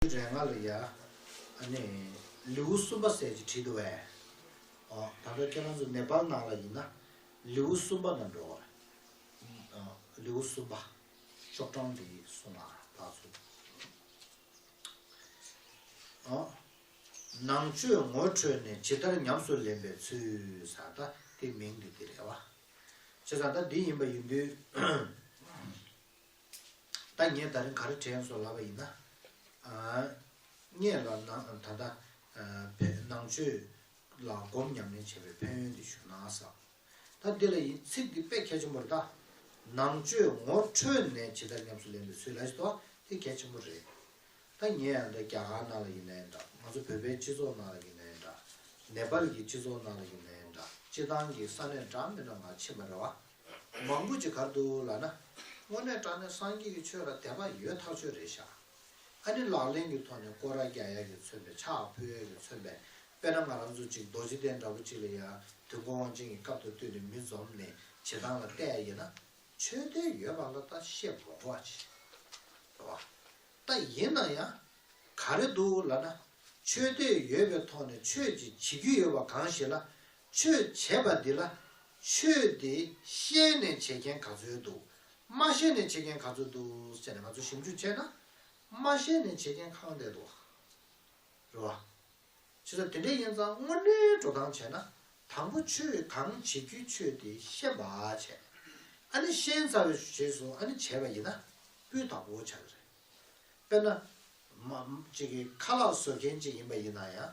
རས་ལྔ་ལ་ཡ། ནི། ལེའུ་གསུམ་པ་ཟས་ཀྱི་དྲི་དུ་བས། ཨོ། ད་ལྟར་ཁྱེད་རང་ཚོ་ནེ་པཱལ་ནང་ལ་ཡིན་ན། ལེའུ་གསུམ་པ་ན་འགྲོ། ལེའུ་གསུམ་པ། ཤོག་གྲངས་འདི་གསུངས་ལ་བདག་ཚོ། ཨོ། ནང་བཅོས་ངོ་འཕྲོད་ནས་ཇི་ལྟར་ཉམས་སུ་ལེན་པའི་ཚུལ། ད་ལྟ་དེ་མིང་འདི་འདི་རེད་བ། བྱས་ཙང་ད་འདི་ཡིན་པ་ཡིན་དུས། ད་ངས་ད་རིང་ག་རེ་དྲན་སོང་ལབ་པ་ཡིན་ན། ངས་ལ་ད་ལྟ་ནང་ཆོས་ལ་སྒོམ་ཉམས་ལེན་བྱེད་པའི་ཕན་ཡོན་དེ་ཞུ་ན་བསམས། ད་འདི་ལ་ཡིན་ཚིག་འདི་དཔེ་གལ་ཆེན་པོ་རེད་ད། ནང་ཆོས་ངོ་འཕྲོད་ནས་ཇི་ལྟར་ཉམས་སུ་ལེན་པའི་ཚུལ་ལ་ཞིག་དང་དེ་གལ་ཆེན་པོ་རེད། ད་ངས་ཡང་ད་རྒྱ་གར་ནང་ལ་ཡིན་ན་ཡང་འདྲ་ང་ཚོ་བོད་པའི་སྤྱི་ཚོགས་ནང་ལ་ཡིན་ན་ཡང་འདྲ། ནེ་པལ་གྱི་སྤྱི་ཚོགས་ནང་ལ་ཡིན་ན་ཡང་འདྲ་སྤྱི་བཏང་གི་ས་གནས་འདྲ་མི་འདྲ་འང་ཕྱིན་པ་རེད་བ། མང་པོ་ཅི་གར་འདུག་ལགས་ན། དངོས་གནས་སྐྲག་ནས་སངས་རྒྱས་ཀྱི་ཆོས་ལ་དད་པ་ཡོད་ཐག་ཆོད་རེད་ཤག། ཨ་ནི་ལག་ལེན་གྱི་ཐོག་ནས་སྐོར་ར་རྒྱ་ཡག་གིས་མཚོན་པའི་ཕྱག་ཕུ་ཡག་གིས་མཚོན་པའི་དཔེ་ན་ང་རང་ཚོ་ཅིག་རྡོ་རྗེ་གདན་འདྲ་པོ་ཅིག་ལ་ཡར་དུས་མགོ་དབང་ཅན་གྱི་སྐབས་དང་བསྟུན་ནས་མི་འཛོམས་ནས་བྱེད་སྟངས་ལ་བལྟས་ཡིན་ན། ཆོས་དད་ཡོད་པ་ལ་ད་ཤེས་བོ་འགྲོ་བ་ཅི་རེད་བ། ད་ཡིན་ན་ཡང་ག་རེ་འདུག་ལགས་ན། ཆོས་དད་ཡོད་པའི་ཐོག་ནས་ཆོས་ཅིག་བྱེད་རྒྱུ་ཡོད་པ་གང་ཞིག་ལ་ཆོས་བྱས་པ་འདི་ལ་ཆོས་དེ་ཤེས་ནས་བྱེད་མཁན་ག་ཚོད་འདུག་མ་ཤེས་ནས་བྱེད་མཁན་ག་ཚོད་འདུག་ཟེར་ནས་ང་ཚོ་ཞིབ་འཇུག་བྱས་ན་མ་ཤེས་ནས་བྱེད་མཁན་གང་འད་འདུག་རེད་བ། ཆུ་ཚ་དེ་འདྲའི་ཡིན་ཙང་དངོས་གནས་འགྲོ་སྟངས་བྱས་ན་དང་པོ་ཆོས་གང་བྱེད་རྒྱུ་ཆོས་དེ་ཤེས་པ་བྱས། ཨ་ནི་ཤེས་ཚར་བའི་རྗེས་སུ་ཨ་ནི་བྱས་པ་ཡིན་ན་སྤུས་དག་པོ་བྱ་གི་རེད། དཔེར་ན། མ། ཅིག་གིས་ཁ་ལག་བཟོ་མཁན་ཅིག་ཡིན་པ་ཡིན་ན་ཡང་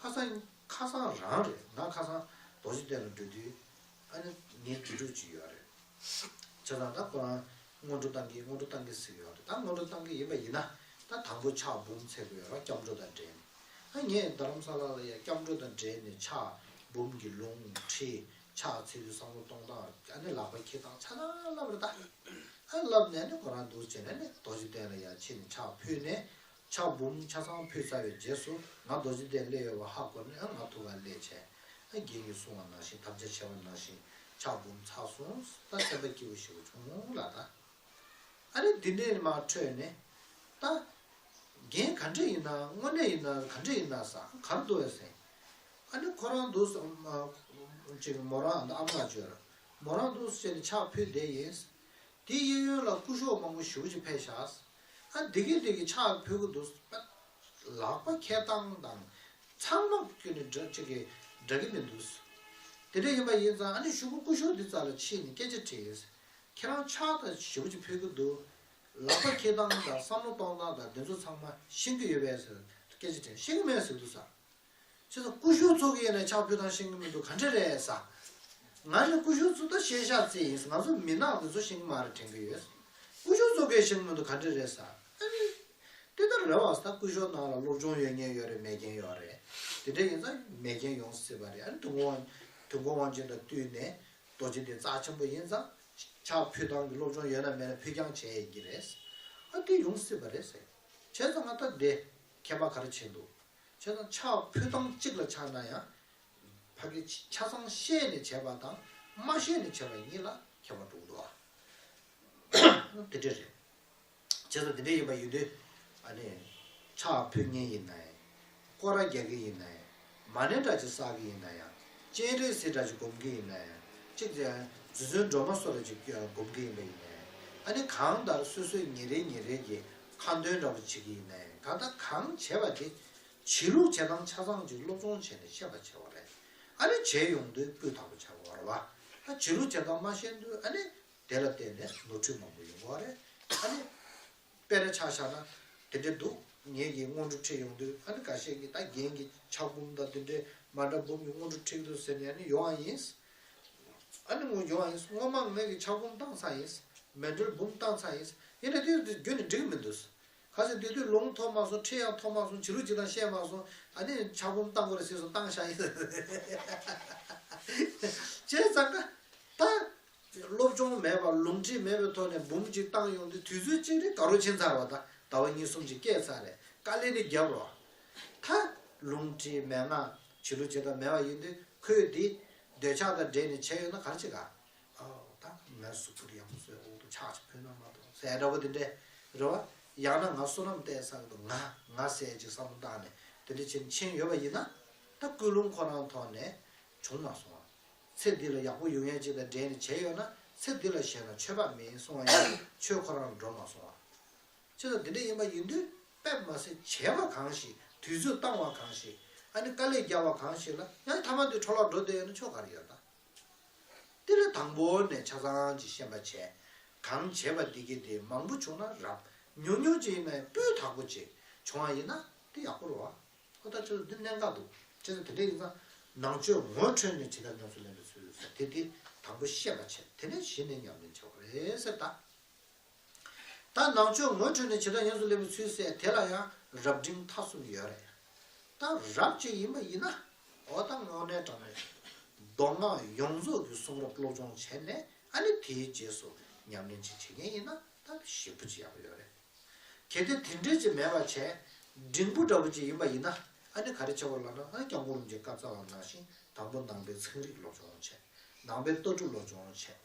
ཁ་སང། ཁ་སང་རང་རེད་ང་ཁ་སང་རྡོ་རྗེ་གདན་ལ་འགྲོ་དུས། ཨ་ནི་ངའི་དུས་འགྲོ་གཅིག་ཡོད་རེད། བྱས་ཙང་ད་ཁོ་རང་སྔོན་འགྲོ་བཏང་གི་སྔོན་འགྲོ་བཏང་གི་ཟེར་ཡོད་རེད་ད་སྔོན་འགྲོ་བཏང་གི་ཡིན་པ་ཡིན་ན་ད་དང་པོ་ཕྱག་འབུམ་འཚལ་དགོས་ཡོད་རོགས་སྐྱབས་འགྲོ་དང་འབྲེལ་ནས་ཨ་ངས་རྡ་རམ་ས་ལ་ལ་ཡ་སྐྱབས་འགྲོ་དང་འབྲེལ་ནས་ཕྱག་འབུམ་གྱི་ལུང་ཁྲིད་ཕྱག་འཚལ་དུས་བསམ་བློ་གཏོང་སྟངས་ཨ་ནི་ལག་པ་འཁྱེར་སྟངས་ཚ་ནང་བསླབ་རེད་ད། ཨ་བསླབ་ནས་ཨ་ནི་ཁོ་རང་འདུག་བྱས་ནས་ཨ་ནི་རྡོ་རྗེ་གདན་ལ་ཡར་ཕྱིན་ནས་ཕྱག་ཕུལ་ནས་ཕྱག་འབུམ་ཆ་ཚང་ཕུལ་ཚར་བའི་རྗེས་སུ་ང་རྡོ་རྗེ་གདན་སླེ་ཡོད་པ་ཧ་གོ་ནས་ང་ཐུགས་ཀར་སླེ་བྱས། རྒྱན་གྱི་གསུང་བ་ནང་བཞིན་དམ་བཅའ་བྱས་པ་ནང་བཞིན་ཕྱག་འབུམ་ཚར་སོང་ད་བསྟན་པ་སྐྱིད་པོ་ཞིག་པོ་བྱུང་ལ་ད། ཨ་རེ་འདི་འདྲའི་མ་འཕྲོད་ནས་ད། རྒྱན་ག་འདྲས་ཡིན་ན་དངོས་གནས་ཡིན་ན་ག་འདྲས་ཡིན་ན་ཟ་གར་འདུག་བས་ཟེར། ཨ་ནི་ཁོ་རང་འདུག་སོང། ཅིག་མོ་རང་ཨ་མ་ལ་བརྗོད། མོ་རང་འདུག་བྱས་ནས་ཕྱག་ཕུལ་བསྡད་ཡིན། དེའི་གཡས་གཡོན་ལ་སྐུ་ཞོགས་མང་པོ་བཞུགས་ཅིག་ཕེབས་བཞག། ཨ་འདི་གིས་འདི་གིས་ཕྱག་ཕུལ་གི་འདུག་ཨ། ལག་པ་ཁྱེར་སྟངས་དང། ཚང་མ་ཁྱོད་ནི་འདྲ་གཅིག་གི་འདྲ་གི་མི་འདུག། དེ་འདྲ་ཡིན་པ་ཡིན་ཙང་ཨ་ནི་ཤུག་གུ་སྐུ་ཤོག་འདི་རྩ་ལ་ཕྱིས་ནས་སྐད་ཆ་དྲིས། ཁྱེད་རང་ཕྱག་དང་ཞེ་བོ་ཅིག་ཕུལ་གི་འདུག། ལག་པ་ཁྱེར་སྟངས་དང་བསམ་བློ་གཏོང་སྟངས་དང་འདི་ཚོ་ཚང་མ་ཤེས་ཀྱི་ཡོད་པས་ཟེར། སྐད་ཆ་དྲིས། ཤེས་ཀྱི་མེད་ཟེར་གི་འདུག་ཟ། ཁྱེད་ཚོ་ཀུ་ཤུ་ཚོགས་ཡིན་ན་ཆག་ཕུད་དང་ཤིང་གི་མི་འདུག་ག་འདྲ་རེད་ས། ང་ནི་ཀུ་ཤུ་ཚོགས་ད་ཤེས་བྱ་རྩེ་ཡིན་ང་ཚོ་མི་ནག་འདི་ཚོ་ཤིང་གི་མ་རེད་དྲན་གི་ཡོད་ས། ཀུ་ཤུ་ཚོགས་ཀའི་ཤིང་གི་མི་འདུག་ག་འདྲ་རེད་ས། ཨ་ནི། དེ་ལྟར་རེད་བ་ས་ད་ཀུ་ཤོ་ནང་ལ་སློབ་སྦྱོང་ཡོད་ཉེན་ཡོད་རེད་མེད་རྐྱེན་ཡོད་རེད། དེ་འདྲ་ཡིན་ས་མེད་རྐྱེན་ཡོང་སྲིད་པ་རེད་ཨ་ནི་དུས་འགོ་དབང་དུས་འགོ་དབང་ཅན་དང་བསྟུན་ནས་རྡོ་རྗེ་འདི་རྩ་ཆེན་པོ་ཡིན་ས། ཆག་ཕུད་དང་གི་སློབ་སྦྱོང་ཡོད་ན་མེད་ན་ཕུད་རྐྱང་བྱས་ཡིན་གྱི་རེད་ས། ཨ་དེ་ཡོང་སྲིད་པ་རེད་ས། བྱས་ཙང་ང་ད་དེ་མཁས་པ་ག་རེ་བྱས་འདུག། ཆོས་དང་ཕྱག་ཕུད་དམ་གཅིག་ལ་ཆགས་ན་ཡང། བར་གྱི་ཆ་ཚང་ཤེས་ནས་བྱས་པ་དང་མ་ཤེས་ནས་བྱས་པ་གཉིས་ལ་ཁྱད་པར་འགྲོ་འགྲོ་བ། དེ་འདྲ་རེད། བྱས་ཙང་དེ་འདྲ་ཡིན་པ་ཡིན་དུས། ཨ་ནི། ཕྱག་ཕུད་གཉིས་ཡིན་ནའི། སྐོར་ར་རྒྱག་གི་ཡིན་ནའི། མ་ཎི་འདྲ་ཅིག་བསགས་ཀྱི་ཡིན་ན་ཡང། སྤྱན་རས་གཟིགས་འདྲ་ཅིག་བསྒོམ་གྱི་ཡིན་ན་ཡང། ཅིག། རྫུན་རྫུན་སྒྲོལ་མ་སོགས་འདྲ་ཅིག་བསྒོམ་གྱི་ཡིན་པ་ཡིན་ནའི། ཨ་ནི་གང་ལྟར་སོ་སོའི་ཉིན་རེ་ཉིན་རེ་ཀྱི། ཁ་འདོན་འདྲ་པོ་བྱེད་ཀྱི་ཡིན་ནའི་ད་ལྟ་གང་བྱས་པ་དེ་བྱེད་ལུགས་བྱེད་སྟངས་ཆ་ཚང་ཅིག་སློབ་སྦྱོང་བྱས་ནས་ཤེས་པ་བྱེད་པ་རེད། ཨ་ནི་བྱས་ཡོང་དུས་སྤུས་དག་པོ་བྱ་དགོས་བ་རེད་བ། ད་བྱེད་ལུགས་བྱེད་སྟངས་མ་ཤེས་དུས་ཨ་ནི་དེ་ལ་བརྟེན་ནས་ནོར་འཁྲུལ་མང་པོ་ཡོང་དགོས་བ་རེད། ཨ་ནི་དཔེ་རེ་ཆགས་བཞག་ན་དེ་འདྲས་འདུག་ངེད་ཀྱིས་སྔོན་འགྲོ་ཁྲིད་ཡོང་དུས་ཨ་ནི་འགའ་ཤས་ཀྱིས་ད་རྒན་གྱི་ཕྱག་འབུམ་དང་དེ་འདྲས་མ་འདྲ་འབུམ་གྱི་སྔོན་འགྲོ་ཁྲིད་དགོས་ཟེར་ནས་ཨ་ནི་ཡོང་བ་ཡིན། ཨ་ནི་སྔོན་བྱུང་བ་ཡིན། སྔོན་མ་མེད་ཀྱི་ཆགས་བུམ་བཏང་ས་ཡིན། མེད་འགྲོལ་བུམ་བཏང་ས་ཡིན། ཡིན་ནའི་དུས་དེར་རྒྱུད་ནི་འགྲིག་མི་འདུག། ག་ཚོད་དུས་དུས་ལུང་ཐོབ་མ་སོང་ཁྲིད་ཡང་ཐོབ་མ་སོང་བྱི་རུ་ཅིག་དང་བཤད་མ་སོང་ཨ་ནི་ཆགས་བུམ་བཏང་དགོས་རེད་ཟེར་སོང་བཏང་ཤག་ཡིན། བྱས་ཙང་ཀ་ཏང། སློབ་སྦྱོང་མེད་པར་ལུང་ཁྲིད་མེད་པའི་ཐོག་ནས་བུམ་ཅིག་བཏང་ཡོང་དུས་དུས་ཚོད་གཅིག་རེ་ག་རོ་ཕྱིན་ཚར་བ་དང་ཟླ་བ་གཉིས་གསུམ་ཅིག་བསྐྱལ་ཚར་རེད་དཀའ་ལས་ནི་རྒྱབ་རོགས། ད། ལུང་ཁྲིད་མེད་ན་བྱི་ལུ་བྱེད་དང་མེད་པ་ཡིན་དུས་ཁོས་དེ། འདོད་ཆགས་དང་འདྲེས་ནས་བྱས་ཡོད་ན་གར་བྱེད་ག། ད་ངའི་གཟུགས་པོ་དེ་ཡང་སོའི་འོག་ཏུ་ཆགས་ཅིག་བོད་ན་མ་གཏོགས་ཟས་འདྲ་པོ་དེ་འདྲས་རེད་བ། ཡང་ན་ང་བསོད་ནམས་བསྟན་ས་གི་འདུག་ང་ང་ཟས་ཅིག་བསམ་བློ་བཏང་ནས་དེ་འདྲས་བྱེད་ཕྱིན་ཡོད་པ་ཡིན་ན། ད་སྐུལ་སློང་ཁོ་རང་ཐོག་ནས་བྱུང་མ་སོང་བ། ཚེ་འདི་ལ་ཡག་པོ་ཡོད་མཁན་ཅིག་དང་འདྲེས་ནས་བྱས་ཡོད་ན་ཚེ་འདི་ལ་གཞན་ལ་ཆོས་པ་མིན་གསུང་བ་ཡིན་ན་ཆོས་ཁོ་རང་འགྲོ་མ་སོང་བ། ཁྱེད་ལ་འདི་འདྲ་ཡིན་པ་ཡིན་དུས་དཔེ་མ་ཟད་བྱས་པ་གང་ཞིག་དུས་ཚོད་བཏང་བ་གང་ཞིག་ཨ་ནི་དཀའ་ལས་བརྒྱབ་བ་གང་ཞིག་ལ་ཡང་ཐ་མ་དུས་འཕྲོ་བརླག་འགྲོ་བསྡད་ཡོད་ན་ཆོ་ག་རེ་ཡོད་ད། དེ་ལས་དང་པོ་ནས་ཆ་ཚང་གྱི་ཤེས་པ་བྱས། གང་བྱས་པ་འདི་གི་དེ་མང་པོ་བྱུང་ན་རབ། ཉུང་ཉུང་ཅིག་ཡིན་ན་ཡང་སྤུས་དག་པོ་ཅིག་བྱུང་བ་ཡིན་ན་དེ་ཡག་པོ་རེད། ཨོ་ད་ཁྱོད་ལ་འདི་གནད་འགག་འདུག་ཁྱེད་ལ་དེ་འདྲ་ཡིན་ཙང་ནང་ཆོས་ངོ་འཕྲོད་ནས་ཇི་ལྟར་ཉམས་སུ་ལེན་པའི་ཚུལ་ཟེར་དེ་དེ་དང་པོ་ཤེས་པ་བྱས་དེ་ནས་གཞི་ནས་ཉམས་ལེན་བྱེད་པ་རེད་ཟེར་ད། ད་ནང་ཆོས་ངོ་འཕྲོད་ནས་བྱེ་བྲག་ཡོངས་སུ་སླེབས་པའི་ཚུལ་གསལ་དེ་ལ་ཡང་རབ་འབྲིང་མཐའ་གསུམ་ཡོད་རེད། ད་རབ་བྱེད་ཡིན་པ་ཡིན་ན་འོ་ད་ངོ་འདྲེན་དྲང་མོད། མདོ་སྔགས་ཡོངས་རྫོགས་ཀྱི་གསུང་རབ་སློབ་སྦྱོང་བྱས་ནས་ཨ་ནི་དེའི་རྗེས་སུ་ཉམས་ལེན་ཅིག་བྱེད་མཁན་ཡིན་ན་ད་ཞེ་བུ་ཅི་ཡང་ཡོད་རེད། གལ་ཏེ་དེ་འདྲས་ཅིག་མེད་པར་བྱས་འབྲིང་པོ་འདྲ་བོ་ཅིག་ཡིན་པ་ཡིན་ན་ཨ་ནི་ག་རེ་བྱེད་དགོས་ལབ་ན་ཨ་ནི་སྐྱབས་མགོན་རིན་ཆེན་བཀའ་རྩ་བ་ནང་བཞིན་དང་པོ་ནང་པའི་ཚན་རིག་སློབ་སྦྱོང་བྱས། ནང་པའི་ལྟ་གྲུབ་སློབ་སྦྱོང་བྱས།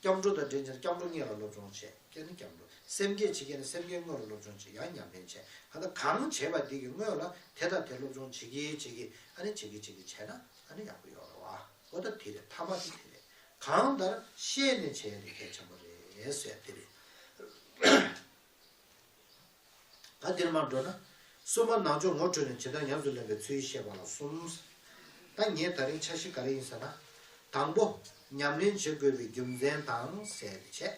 སྐྱབས་འགྲོ་དང་འབྲེལ་ཅན་སྐྱབས་འགྲོ་གཉིས་ལ་སློབ་སྦྱོང་བྱེད་མཁན་ནི་སྐྱབས་འགྲོ། སེམས་བསྐྱེད་བྱེད་མཁན་ནི་སེམས་བསྐྱེད་དངོས་ལ་སློབ་སྦྱོང་བྱེད་ཡང་ཉམས་ལེན་བྱེད་ཨ་ན་གང་བྱེད་པ་དེ་གི་དངོས་ལ་དེ་དང་དེ་སློབ་སྦྱོང་བྱེད་ཀྱི་བྱེད་ཀྱི་ཨ་ནི་བྱེད་ཀྱི་བྱེད་ཀྱི་བྱས་ན་ཨ་ནི་ཡག་པོ་ཡོད་རེད་བ་འོ་ད་དེ་རེད་ཐ་མ་དེ་དེ་རེད་གང་ལྟར་ཤེས་ནས་བྱས་དེ་གལ་ཆེན་པོ་རེད་ཟེར་དེ་རེད། ད་འདིར་མར་འགྲོ་ན། གསུམ་པ་ནང་ཆོས་ངོ་འཕྲོད་ནས་ཇི་ལྟར་ཉམས་སུ་ལེན་པའི་ཚུལ་བཤད་པ་ལ་གསུམ། ད་ངས་ད་རིང་འཆར་གཞི་ག་རེ་ཡིན་ཟེར་ན། དང་པོ། ཉམས་ལེན་བྱེད་དགོས་པའི་རྒྱུ་མཚན་དང་ཟད་བྱས།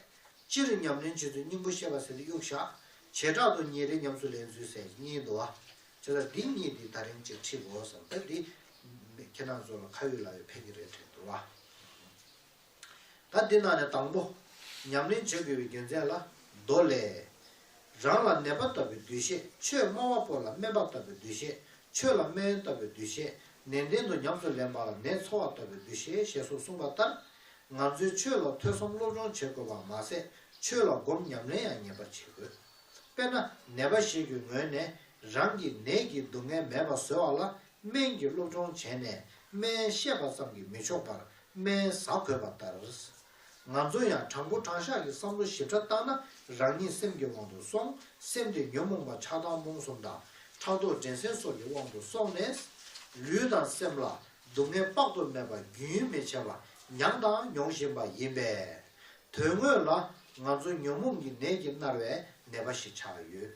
སྤྱིར་ཉམས་ལེན་བྱེད་ཚུལ་སྙིང་པོ་བཤད་པ་ཟེར་ཏེ་གཡུག་བཞག་བྱེ་བྲག་ཏུ་ཉིན་རེ་ཉམས་སུ་ལེན་ཚུལ་ཟེར་གཉིས་འདུ་བ། བྱས་ཙང་འདི་གཉིས་འདི་ད་རིང་ཅིག་འཁྲིད་དགོས་བསམ་ད་འདི། ཁྱེད་རང་ཚོ་ལ་ཁ་ཡོད་ལག་ཡོད་ཕན་གྱི་རེད་དྲན་འདུག་བ། ད་འདི་ནང་ནས་དང་པོ། ཉམས་ལེན་བརྗོད་དགོས་པའི་རྒྱུ་མཚན་ལ། མདོ་ལས། རང་ལ་ནད་པ་ལྟ་བུའི་འདུ་ཤེས་ཆོས་སྨྲ་བ་པོ་ལ་སྨན་པ་ལྟ་བུའི་འདུ་ཤེས་ཆོས་ལ་སྨན་ཡོན་ལྟ་བུའི་འདུ་ཤེས་ནན་ཏན་དུ་ཉམས་སུ་ལེན་པ་ལ་ནད་འཚོ་བ་ལྟ་བུའི་འདུ་ཤེས་ཞེས་སོགས་གསུངས་པ་ལྟར། ང་ཚོས་ཆོས་ལ་ཐོས་བསམ་སློབ་སྦྱོང་བྱེད་དགོས་པར་མ་ཟད་ཆོས་ལ་སྒོམ་ཉམས་ལེན་ཡང་ངེས་པར་བྱེད་དགོས། དཔེར་ན་ནད་པ་ཞིག་གི་ངོས་ནས་རང་གིས་ནད་ཀྱི་སྡུག་བསྔལ་མེད་པར་བཟོས་བ་ལ་སྨན་གྱི་སློབ་སྦྱོང་བྱས་ནས་སྨན་བཤད་པ་ཙམ་གྱིས་མི་ཆོག་པར་སྨན་ཟ་དགོས་པ་ལྟར། ང་ཚོ་ཡང་དྲང་པོ་དྲང་བཞག་གི་བསམ་བློ་ཞིབ་ཕྲ་བཏང་ན་རང་ཉིད་སེམས་ཀྱི་དབང་དུ་སོང་སེམས་དེ་ཉོན་མོངས་པ་ཆགས་སྡང་རྨོངས་གསུམ་དང་ཕྲག་དོག་འགྲན་སེམས་སོགས་ཀྱི་དབང་དུ་སོང་ནས། ལུས་དང་སེམས་ལ་སྡུག་བསྔལ་དཔག་ཏུ་མེད་པ་རྒྱུན་མི་ཆད་པར་མྱངས་དང་མྱོང་བཞིན་པ་ཡིན་པས། དོན་དངོས་ལ་ང་ཚོ་ཉོན་མོངས་ཀྱི་ནད་ཀྱིས་མནར་བའི་ནད་པ་ཞིག་ཆགས་ཡོད།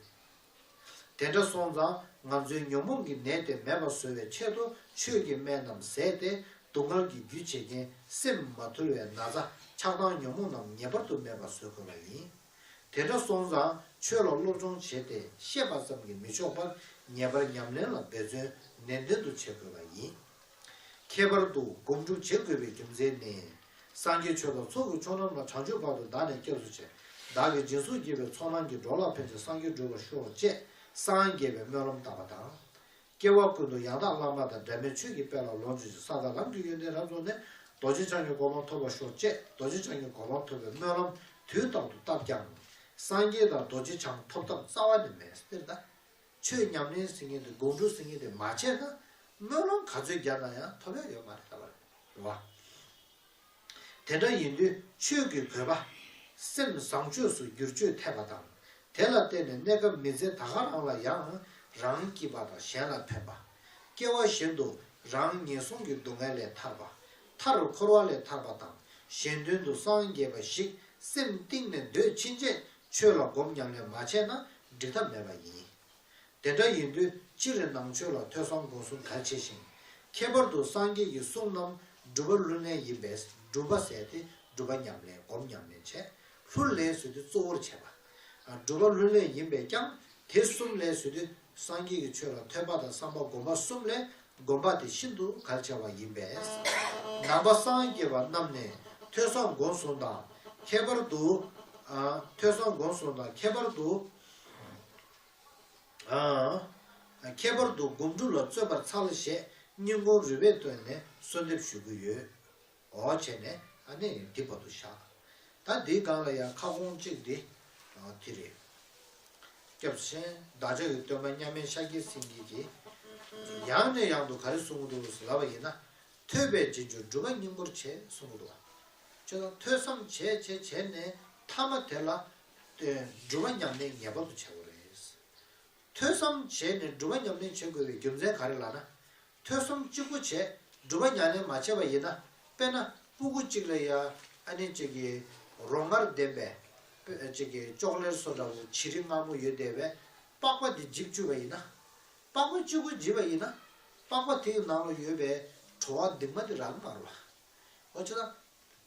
དེ་འདྲ་སོང་ཙང་ང་ཚོའི་ཉོན་མོངས་ཀྱི་ནད་དེ་མེད་པར་བཟོ་བའི་ཆེད་དུ་ཆོས་ཀྱི་སྨན་རྣམས་ཟས་ཏེ་སྡུག་བསྔལ་གྱི་རྒྱུ་བྱེད་མཁན་སེམས་མ་ཐུལ་བའི་ན་ཚ་ཆགས་སྡང་ཉོན་མོངས་རྣམས་ངེས་པར་དུ་མེད་པར་བཟོ་དགོས་པ་ཡིན། དེ་འདྲ་སོང་ཙང་ཆོས་ལ་སློབ་སྦྱོང་བྱས་ཏེ་ཤེས་པ་ཙམ་གྱིས་མི་ཆོག་པར་ངེས་པར་ཉམས་ལེན་ལ་འབད་བརྩོན་ནན་ཏན་དུ་བྱེད་དགོས་པ་ཡིན། ཁྱད་པར་དུ་སྒོམ་སྒྲུབ་བྱེད་དགོས་པའི་རྒྱུ་མཚན་ནི། སངས་རྒྱས་ཆོས་དང་ཚོགས་ཀྱི་མཆོག་རྣམས་ལ་བྱང་ཆུབ་བར་དུ་བདག་ནི་སྐྱབས་སུ་མཆི། བདག་གིས་སྦྱིན་སོགས་བགྱིས་པའི་ཚོགས་རྣམས་ཀྱིས་འགྲོ་ལ་ཕན་ཅིང་སངས་རྒྱས་འགྲུབ་པར་ཤོག་ཅེས་སངས་རྒྱས་པའི་སྨོན་ལམ་བཏབ་པ་དང། སྐྱེ་བ་ཀུན་ཏུ་ཡང་དག་བླ་མ་དང་སྒྲ་མེད་ཆོས་ཀྱི་དཔལ་ལ་ལོངས་སྤྱོད་ཅིང་ས་དང་ལམ་གྱི་ཡོན་ཏན་རབ་རྫོགས་ནས་རྡོ་རྗེ་འཆང་གི་གོ་འཕང་ཐོབ་པར་ཤོག་ཅེས་རྡོ་རྗེ་འཆང་གི་གོ་འཕང་ཐོབ་པའི་སྨོན་ལམ་དུས་རྟག་ཏུ་བཏབ་ཀྱང། སངས་རྒྱས་དང་རྡོ་རྗེ་འཆང་ཐོབ་ཐབས་རྩ་བ་ནས་མེད། ཆོས་ཉམས་ལེན་ཟིན་ངེས་དང་དགོངས་དྲོ་ཟིན་ངེས་དེ་མ་བྱས་ན་སྨོན་ལམ་ག་ཚོད་རྒྱབ་ན་ཡང་ཐོབ་ཡ་ཡོད་མ་རེད་ལབ་པ་རེད། དེ་འདྲ་ཡིན་དུས་ཆོས་ཀྱི་བོད་པ། སེམས་བཟང་ཆོས་སུ་བསྒྱུར་བཅོས་ཐེབས་པ་དང་དེ་ལ་བརྟེན་ནས་གནས་སྐབས་མི་ཚེ་ད་ག་རང་ལ་ཡང་རང་སྐྱིད་པ་དང་གཞན་ལ་ཕན་པ། སྐྱེ་བ་བཞིན་དུ་རང་ངན་སོང་གི་སྡུག་བསྔལ་ལས་ཐར་པ། མཐར་འཁོར་བ་ལས་ཐར་པ་དང་གཞན་དོན་དུ་སངས་རྒྱས་པ་ཞིག་སེམས་གཏིང་ནས་འདོད་ཕྱིན་ཆད་ཆོས་ལ་སྒོམ་ཉམས་ལེན་མ་བྱས་ན་འགྲིག་ཐབས་མེད་པ་ཡིན། དེ་འདྲ་ཡིན་དུས་ཅི་རེད་ནང་ཆོས་ལ་ཐོས་བསམ་སྒོམ་གསུམ་གལ་ཆེ་ཞིང། ཁྱད་པར་དུ་སངས་རྒྱས་ཀྱི་གསུང་རྣམས་སྒྲུབ་པ་ལྷུར་ལེན་ཡིན་པས་སྒྲུབ་པ་ཟད་དེ་སྒྲུབ་པ་ཉམས་ལེན་སྒོམ་ཉམས་ལེན་བྱས་ལྷུར་ལེན་ཟོས་དུས་གཙོ་བོར་བྱས་པ། སྒྲུབ་པ་ལྷུར་ལེན་ཡིན་པས་ཀྱང་དེ་གསུམ་ལེན་ཟོས་དུས་སངས་རྒྱས་ཀྱི་ཆོས་ལ་ཐོས་པ་དང་བསམ་པ་སྒོམ་པ་གསུམ་ལས་སྒོམ་པ་དེ་ཤིན་ཏུ་གལ་ཆེ་བ་ཡིན་པས། ནང་པ་སངས་རྒྱས་པ་རྣམས་ནས་ཐོས་བསམ་སྒོམ་གསུམ་དང་ཁྱད་པར་དུ། ཐོས་བསམ་སྒོམ་གསུམ་དང་ཁྱད་པར་དུ། ཁྱད་པར་དུ་སྒོམ་སྒྲུབ་ལ་བརྩོན་པར་འཚལ་ཞེས་སྙིང་ཁོང་རུས་པས་བཏོན་ནས་གསོལ་འདེབས་ཞུ་གི་ཡོད། འོ་བྱས་ནས་ཨ་ནེ་ཡང་འདི་བར་དུ་བཞག། ད་འདིའི་སྒང་ལ་ཡང་ཁ་སྐོང་གཅིག་འདི་དེ་རེད། སྐྱབས་ཆེན་བདག་ཅག་གི་སྟོན་པ་མཉམ་མེད་ཤཱཀྱའི་སེང་གེ་གྱིས། ཡང་ནས་ཡང་དུ་ག་རེ་གསུང་གི་འདུག་ཟེར་བ་ཡིན་ན། ཐོས་པའི་རྗེས་འཇུག་སྒྲུབ་པ་སྙིང་པོར་བྱེད་གསུང་གི་འདུག། ཁྱོད་རང་ཐོས་བསམ་བྱས་བྱས་བྱས་ནས་ཐ་མ་དེ་ལ། སྒྲུབ་པ་ཉམས་ལེན་ངེས་པར་དུ་བྱ་དགོས་རེད། ཐོས་བསམ་བྱས་ནས་སྒྲུབ་པ་ཉམས་ལེན་བྱེད་དགོས་པའི་རྒྱུ་མཚན་ག་རེ་ལགས་ན། ཐོས་བསམ་གཅིག་པུ་བྱས་སྒྲུབ་པ་ཉམས་ལེན་མ་བྱས་པ་ཡིན་ན་དཔེར་ན་སྤུ་གུ་གཅིག་ལ་ཡ་ཨ་ནི་གཅིག་གི་རོ་མངར་ལྡན་པས་གཅིག་གི་ལྕོག་ལེར་སོ་འདྲ་བོ་བྱི་རི་མངར་མོ་ཡོད་དེ་བས་པགས་པ་དེ་འཇིབ་བཅུག་པ་ཡིན་ན། པགས་པ་གཅིག་པུ་འཇིབ་པ་ཡིན་ན་པགས་པ་དེ་ཡི་ནང་ལ་ཡོད་པའི་བྲོ་བ་འདི་མ་འདི་རག་མ་རོ། འོ་ཅི་ན།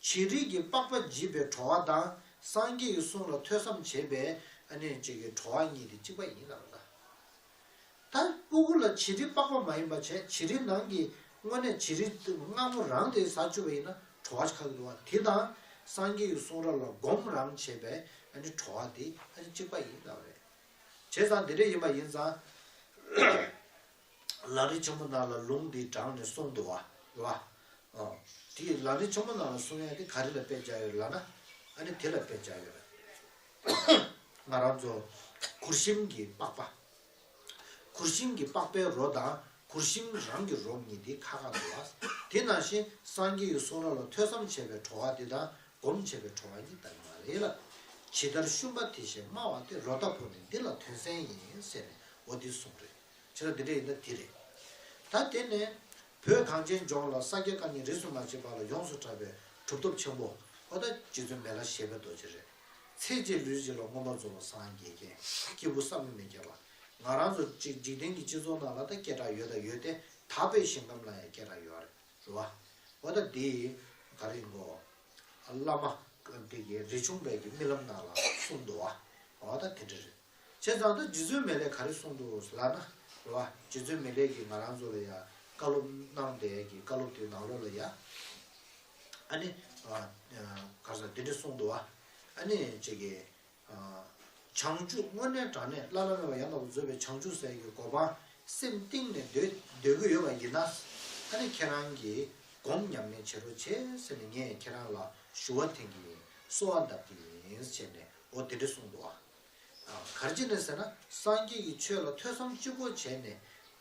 བྱི་རིལ་གྱི་པགས་པ་འཇིབ་པའི་བྲོ་བ་དང་སངས་རྒྱས་ཀྱི་གསུང་ལ་ཐོས་བསམ་བྱས་པའི་ཨ་ནི་གཅིག་གི་བྲོ་བ་གཉིས་དེ་གཅིག་པ་ཡིན་ནམ་ན། ལྟར་སྤུ་གུ་ལ་བྱི་རིལ་པགས་པ་མ་ཡིན་པ་བྱས་བྱི་རིལ་ནང་གི་དངོས་གནས་བྱི་རིལ་དངངས་མོ་རང་དེའི་ཟ་ཆུ་བ་ཡིན་ན་བྲོ་བ་ཁག་འདུ་བ་དེ་དང་སངས་རྒྱས་ཀྱི་གསུང་རབ་ལ་སྒོམ་རང་བྱེད་པའི་བྲོ་བ་དེ་གཅིག་པ་ཡིན་དགའ་བ་རེད། བྱས་ཙང་དེ་འདྲ་ཡིན་པ་ཡིན་ཙང། ལག་རིལ་ཆེན་མོ་ནང་ལ་ལུང་དེ་དྲངས་ནས་གསུངས་འདུ་བ་ལ། ཨོ། དེ་ལག་རིལ་ཆེན་མོ་ནང་ལ་གསུང་ཡ་དེ་ག་རེ་ལ་དཔེ་བྱ་ཡོད་ལ་ན། ཨ་ནི་དེ་ལ་དཔེ་བྱ་ཡོད་རེད། ང་རང་ཚོ། གུར་ཤིང་གི་པགས་པ། གུར་ཤིང་གི་པགས་པའི་རོ་དང་གུར་ཤིང་རང་གི་རོ་གཉིས་དེ་ཁ་ཁ་འདུག་ལ། དེ་ནང་བཞིན་སངས་རྒྱས་ཡུལ་གསུང་ར་ལ་ཐོས་བསམ་བྱས་པའི་བྲོ་བ་དེ་དང་སྒོམ་བྱས་པའི་བྲོ་བ་གཉིས་ལྟ་གི་མ་རེད་ལ། ཇི་ལྟར་བཤུམ་པ་དེ་བཞིན་སྨྲ་བ་དེ་རོ་ལྟ་བུ་ནི་འདི་ལ་དོན་གསལ་ཡིན་ཟེར་ནས་འོ་འདི་གསུངས་རེད། ཇི་ལྟར་འདི་འདྲ་ཡིན་ན་འདི་རེད། ད་དེ་ནས། བོད་གངས་ཅན་ལྗོངས་ལ་ས་སྐྱ་ཀ་གཉིས་རིས་སུ་མ་ཕྱེད་པ་ལ་ཡོངས་སུ་གྲགས་པའི་གྲུབ་ཐོབ་ཆེན་པོ། ཨོ་ད་རྗེ་བཙུན་མེ་ལ་ཞེས་པའི་རྡོ་རྗེ་རེད། ཚེ་གཅིག་ལུས་གཅིག་ལ་མངོན་པར་རྫོགས་པ་སངས་རྒྱས་མཁན་སྐྱེས་བུ་བསམ་གྱིས་མི་ཁྱབ་པ། ང་རང་ཚོ་གཅིག་འཇིག་རྟེན་གྱི་སྤྱི་ཚོགས་ནང་ལ་ད་སྐད་གྲགས་ཡོད་ད་ཡོད་དེ་ད་པའི་ཞིང་ཁམས་ལ་ཡང་སྐད་གྲགས་ཡོད་རེད་བ། འོ་ད་འདི་ག་རེ་མགོ། བླ་མ། འདི་གི་རི་ཆུང་བས་ཀྱི་རྨི་ལམ་ནང་ལ་གསུངས་འདུག་བ། འོ་ད་དེ་འདྲ་རེད། བྱས་ཙང་ད་རྗེ་བཙུན་མེ་ལེགས་ག་རེ་གསུངས་འདུག་ལགས་ན། རེ་བ། རྗེ་བཙུན་མེ་ལེགས་ཀྱིས་ང་རང་ཚོ་ལ་ཡང་བཀའ་སློབ་གནང་བསྡད་ཀྱི་བཀའ་སློབ་དེ་ནང་ལོགས་ལ་ཡ། ཨ་ནི། གར་ས་དེ་འདྲ་གསུངས་འདུག་ཨ། ཨ་ནི། ཅེས་ཀྱི། བྱང་ཆུབ་སྔོན་གནས་དྲང་གནས་བླ་ན་མེད་པ་ཡང་དག་པར་མཛོད་པའི་བྱང་ཆུབ་སེམས་ཀྱི་གོ་འཕང་སེམས་གཏིང་ནས་འདོད་རྒྱུ་ཡོད་པ་ཡིན་ན། ཨ་ནི་ཁྱེད་རང་གིས་སྒོམ་ཉམས་ལེན་བྱེད་རོགས་བྱས་ཟེར་ནས་ངས་ཁྱེད་རང་ལ་ཞུ་བ་འཐེན་གྱི་ཡིན་གསོལ་བ་འདབ་ཀྱི་ཡིན་ཟེར་ནས་འོ་དེ་འདྲ་གསུངས་འདུག་ཨ། གར་ཅི་ནས་ཟེར་ན་སངས་རྒྱས་ཀྱི་ཆོས་ལ་ཐོས་བསམ་སྤྱི་བོར་བྱས་ནས།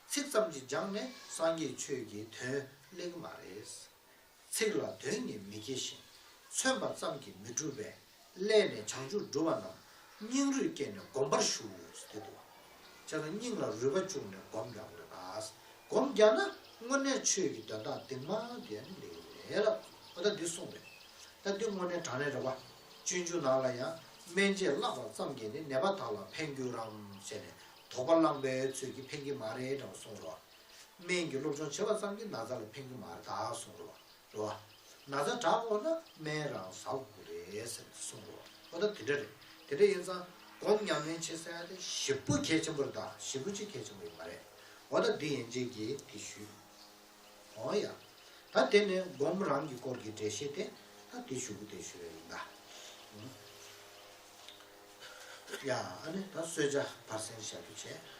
ཚིག་ཙམ་གྱིས་སྦྱངས་ནས་སངས་རྒྱས་ཆོས་ཀྱི་དོན་གླེང་གི་མ་རེད། ཚིག་ལ་དོན་གཉིས་མི་སྐྱེ་ཞིང། མཚོན་པ་ཙམ་གྱིས་མི་འགྲུབ་པས། སླད་ནས་བྱང་ཆུབ་སྒྲུབ་པ་རྣམས། སྙིང་རུས་བསྐྱེད་ནས་བསྒོམ་པར་ཞུ། དེ་དུ་བ། ཅེ་ན་སྙིང་ལ་རུས་པ་བཅུག་ནས་བསྒོམ་རྒྱག་དགོས་ལ། བསྒོམ་རྒྱག་ན་དངོས་གནས་ཆོས་ཀྱི་དོན་དག་འདི་མ་འདི་ཡང་འདི་ལས་ལ། ད་འདི་གསུངས་པས། ད་འདི་དངོས་གནས་དྲང་ནས་རེ་བ། སྤྱོད་འཇུག་ནང་ལ་ཡང། སྨན་དཔྱད་བརླག་པ་ཙམ་གྱིས་ནི་ནད་པ་དག་ལ་ཕན་འགྱུར་རམ་ཞེས་ནས་དོགས་པ་བསླངས་པས་ཚོད་ཀྱིས་ཕན་གྱི་མ་རེད་དྲག་གསུངས་རོ། སྨན་གྱི་སློབ་སྦྱོང་བྱེད་པ་ཙམ་གྱིས་ན་ཚ་ལ་ཕན་གྱི་མ་རེད་དྲག་གསུངས་རོ། རོ། ན་ཚ་དྲག་འོང་ན་སྨན་རང་ཟ་དགོས་རེད་ཟེར་ནས་གསུངས་རོ། ཨོ་ད་དེ་འདྲ་རེད། དེ་འདྲ་ཡིན་ཙང་སྒོམ་ཉམས་ལེན་བྱེད་ས་ཡང་དེ་བཞི་པོ་གལ་ཆེན་པོ་རེད་ད་བཞི་པོ་གཅིག་གལ་ཆེན་པོ་ཡོད་མ་རེད། ཨོ་ད་འདི་ཡན་ཆད་ཀྱིས་དེ་ཞུས། ཨོ་ཡ། ད་དེ་ནི་སྒོམ་རང་གི་སྐོར་གྱི་འགྲེལ་བཤད་དེ། ད་དེ་ཞུ་གི་དེ་ཞུ་རེ་ཡིན་ད། ཡ། ཨ་ནི་ད་གསོལ་ཇ་བར་གསེང་བཞག་རྒྱུ་བྱས།